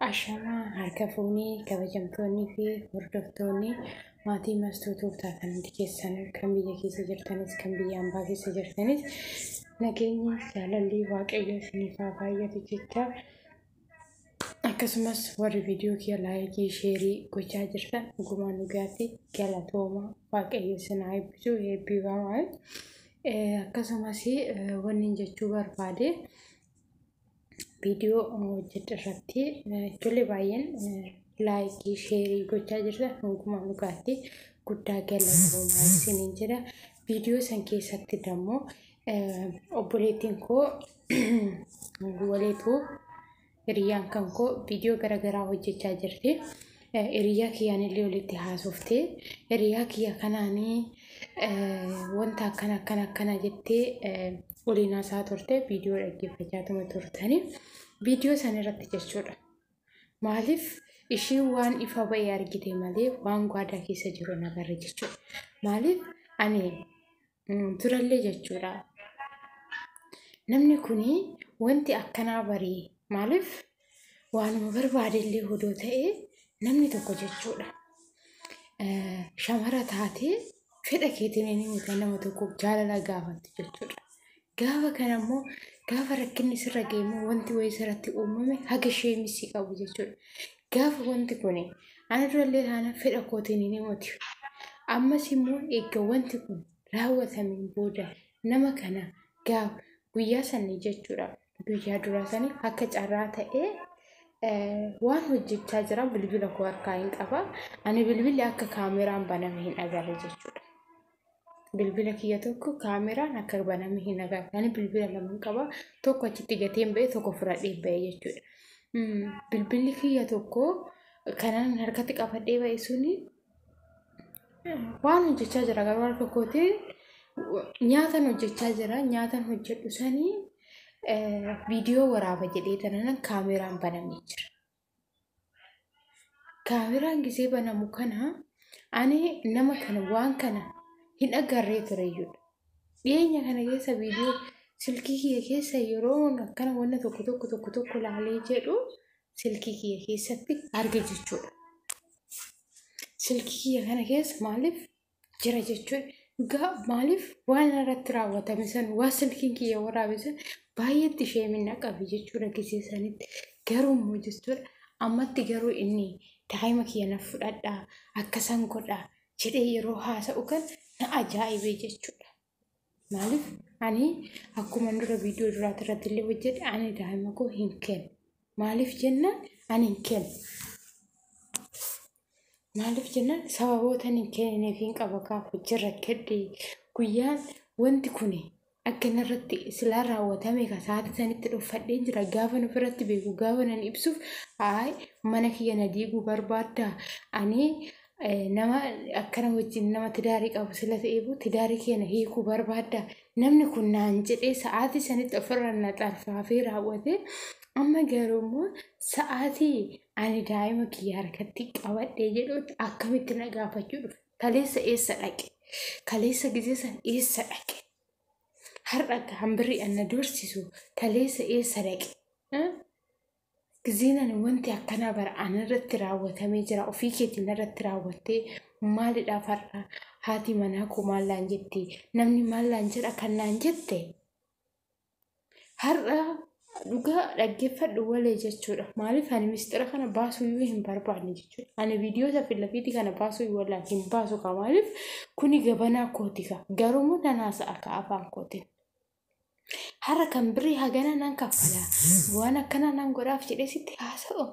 Ashamaa harka fuunee kabajamtoonnii fi hordoftoonni maatii mastuu tuutaa kan hundi keessan kan biyya keessa jirtanis kan biyya ambaa keessa jirtanis nageenyi jaalalli waaqayyo isiniif haa baay'atu jecha akkasumas warri viidiyoo kiyya laayikii sheerii gochaa jirtan dhugumaa dhugaatti galatooma waaqayyo isin haa eebbisu eebbifamaa akkasumas wanni jechuu barbaade. viidiyoo hojjedhe irratti ijoollee baay'een laayikii sheerii gochaa jirtan hundumaa dhugaatti guddaa galatoomaa isiniin jedha. Viidiyoo san keessatti dammoo obboleettiin koo waliitu hiriyyaan kan koo viidiyoo garaagaraa hojjechaa jirti. Hiriyaa kiyyaanillee walitti haasofte. Hiriyaa kiyya kanaanii wanta akkana akkana akkana jettee waliin haasaa turte viidiyoo dhaggeeffachaatuma turtanii viidiyoo san irratti jechuudha. Maaliif ishiin waan ifa ba'e argite malee waan gwaadaa keessa jiru hin agarre jechuudha. Maaliif ani turallee jechuudha. Namni kun wanti akkanaa barii maaliif waanuma barbaadellee hodoo ta'e namni tokko jechuudha. Shamara taatee fedha keetiin inni nama tokko jaalala gaafatti jechuudha. Gaafa kana immoo gaafa rakkinni sirra ga'e immoo wanti wayii sirratti uumame haga sheemii si qabu jechuudha. Gaafa wanti kun ana durallee taana fedha kootiin hin himatu. Ammas immoo eegga wanti kun raawwatameen booda nama kana gaafa guyyaa sanii jechuudha. Guyyaa duraa sanii akka carraa ta'ee waan hojjechaa jira bilbila koo harkaa hin qaba. Ani bilbilli akka kaameraan baname hin agarre jechuudha. bilbila kiyya tokko kaameraan akka baname hin agarre ani bilbila lama qaba tokko achitti gateen ba'e tokko fudhadhee ba'e jechuudha. Bilbilli kiyya tokko kanaan harkatti qabadhee ba'e suni waan hojjechaa jira garuu harka kootiin nyaatan hojjechaa jira nyaatan hojjedhu sanii viidiyoo waraaba jedhee tanan kaameraan banamee jira. Kaameraan gisee banamu kana ani nama kana waan kana hin agarree tureyyudha. Dhiyeenya kana keessa viidiyoo silkii kiyya keessa yeroo akkana wanna tokko tokko tokko tokko laalee jedhu silkii kiyya keessatti arge jechuudha. Silkii kiyya kana keessa maaliif jira jechuudha. Dhugaa maaliif waan irratti raawwatame san waan silkiin kiyya waraabe san baay'eetti ishee minna qabe jechuudha gisee sanitti. Garuu immoo jechuudha ammatti garuu inni daa'ima kiyya na fudhadhaa akkasan godhaa jedhee yeroo haasa'u kan na ajaa'ibee jechuudha. Maaliif ani akkuma dura viidiyoo duraati irratti illee hojjedhe ani daa'ima koo hin kennu. Maaliif jennaan ani hin kennu. Maaliif jennaan sababoota ani hin kennineef hin qaba kaaf hojii rakkadhe guyyaan wanti kun akka inni irratti silaa raawwatame ka sa'aatii sanitti dhuffadhee jira gaafa nuuf irratti beeku gaafa nan ibsuuf haay mana kiyya na diiguu barbaadda ani nama akkana wajjin nama tidaarii qabu sila ta'eefu tidaarii keenya hiikuu barbaadda namni kun naan jedhee sa'aatii sanitti ofirra na xarfaafee raawwate amma garuu immoo sa'aatii ani daa'ima kiyya harkatti qabadhee jedhutti akkamitti na gaafachuu dhufe kaleessa eessa dhaqe kaleessa gizee san eessa dhaqe har'a hambirri anna dursisu kaleessa eessa dhaqe Gizeen ani wanti akkanaa bara anarratti raawwatamee jira ofii keetiin narratti raawwattee maalidhaaf har'a haati manaa koo maal naan jette namni maal naan jedha kan naan jette har'a dhugaa dhaggeeffadhu walee jechuudha maaliif ani mistira kana baasuu iyyuu hin barbaanne jechuudha ani viidiyoota fi lafiitii kana baasuu hin wallaan hin baasu kaa maaliif kuni gabanaa kooti kaa garuu nan haasa'a kaa afaan kootiin. Har'a kan birrii hagana nan kaffala waan akkanaa nan godhaaf jedhee sitti haasa'u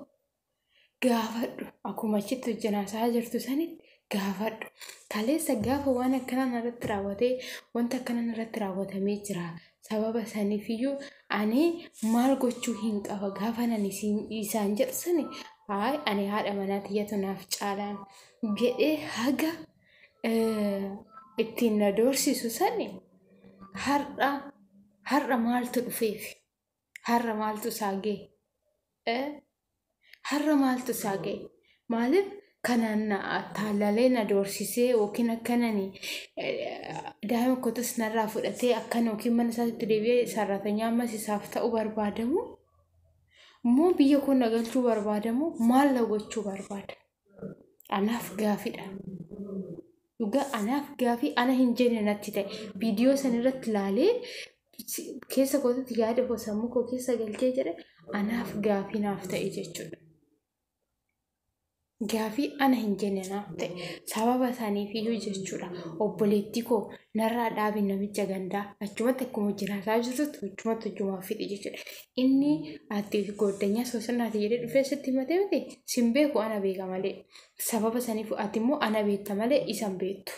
gaafadhu akkuma achitti wajjin haasa'aa jirtu sanitti gaafadhu kaleessa gaafa waan akkanaa narratti raawwatee wanta akkanaa narratti raawwatamee jira sababa saniifiyyuu ani maal gochuu hin qaba gaafa nan isaan jedhu sani haay ani haadha manaa tiyyatu naaf caalaan jedhee haga eh, ittiin na doorsisu sani har'a har'a maaltu dhufeef har'a maaltu isaa ga'e eh, har'a maaltu isaa ga'e maaliif kanaan na taallalee na doorsisee yookiin akkanani eh, daa'ima kootas narraa fudhatee akkana yookiin mana isaatti deebi'ee sarratanyaa ammas isaaf ta'u barbaadamu immoo biyya koo na galchuu barbaadamu maal na gochuu barbaada anaaf gaafidha dhugaa anaaf gaafii ana hin jenne natti ta'e viidiyoo san irratti laalee keessa kootitti yaada koo sammuu koo keessa galchee jedhe anaaf gaafii naaf ta'e jechuudha. Gaafii ana hin jenne naaf ta'e sababa isaaniif iyyuu jechuudha obboleettii koo narraa dhaabi namicha gandaa achumatti akkuma jiraataa jirtutti achumatti hojjumaa fixi jechuudha Inni ati gooddanyaa soosinaati jedhee dhufee sitti himatee miti sin beeku ana beeka malee. Sababa saniif ati immoo ana beekta malee isan beektu.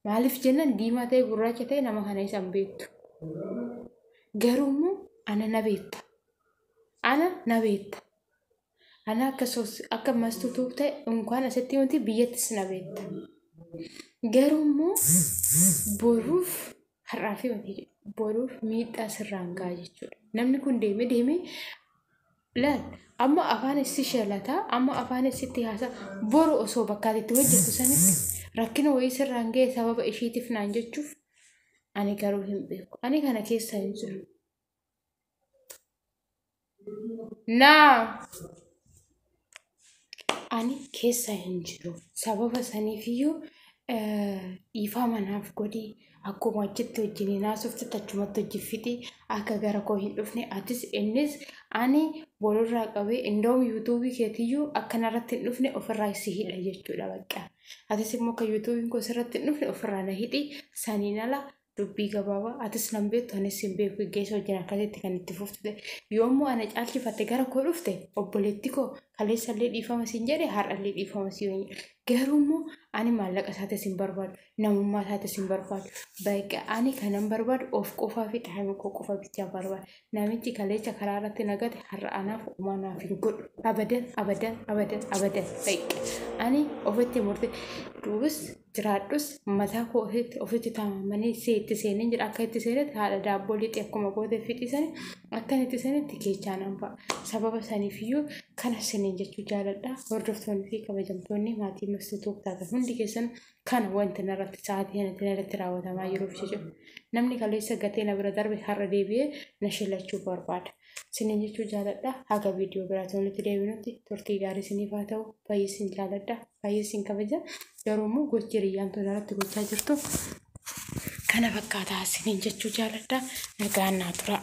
Maaliif jennan diimaa ta'e gurraacha ta'e nama kana isan beektu. Garuu immoo ana na beekta. Ana na beekta. Ana akka sos akka mastuu tuukta unkaan asitti wanti biyyattis na beekta. Garuu immoo boruuf har'aa fi ofii boruuf miidhaa sirraan ga'a jechuudha. Namni kun deeme deeme laal amma afaan issi shalataa amma afaan issitti haasaa boru osoo bakkaatti itti hojjetu sanitti rakkina wayii sirraan ga'e sababa ishiitiif naan jechuuf ani garuu hin beeku. Ani kana keessa hin jiru. Naa. Ani keessa hin jiru. Sababa saniifiyyuu dhiifaa manaaf godhi. Akkuma achitti wajjin hin haasofte achumatti hojii fixi. Akka gara koo hin dhufne atis innis ani boorurraa qabee indoom yuutuubii keetiyyuu akkanarratti hin dhufne ofirraa si hidha jechuudha bakka. Atis immoo akka yuutuubiin koo sirratti hin dhufne ofirraa na hidhi saniin ala dubbii gabaabaa atis nan beektu anis hin beeku geggeessa wajjin akkasitti kan itti fuftu ta'e yoommoo ana caalchifatte gara koo dhufte obboleetti koo kaleessallee dhiifama siin jedhe har'allee dhiifama siin hin jedhe garuu immoo ani maallaqa isaatis hin barbaadu namummaa isaatis hin barbaadu baqa ani kanan barbaadu of qofaa fi dhaabuu koo qofa bichaa barbaada namichi kaleessa karaa irratti nagate har'a anaaf uumaa naaf hin godhu abadan abadan abadan abadan baqa ani ofitti murte duubis jiraadhus mataa koo ofitti ofitti taamamanee see itti seeneen jira akka itti seenetti haadha daabboo lixee akkuma goote fixii sani akkan itti seenetti keechaa nan ba'a sababa saniif iyyuu kana siniin jechuu jaaladha hordoftoonni fi kabajamtoonni maatii mastuu took taatan hundi keessan kana wanti narratti sa'aatii kanatti narratti raawwatamaa jiruuf jechuudha namni kaleessa gatee na bira darbe har'a deebi'ee na shillachuu barbaada Sinin jechuu jaaladha. Haga viidiyoo biraatiin walitti deebinutti turtii gaarii isiniif haa ta'u. Baay'ee isin jaaladha. Baay'ee isin kabaja. Garuu immoo gochi hiriyyaan tun irratti gochaa jirtu kana fakkaataa isiniin jechuu jaaladha. Nagaan naa turaa.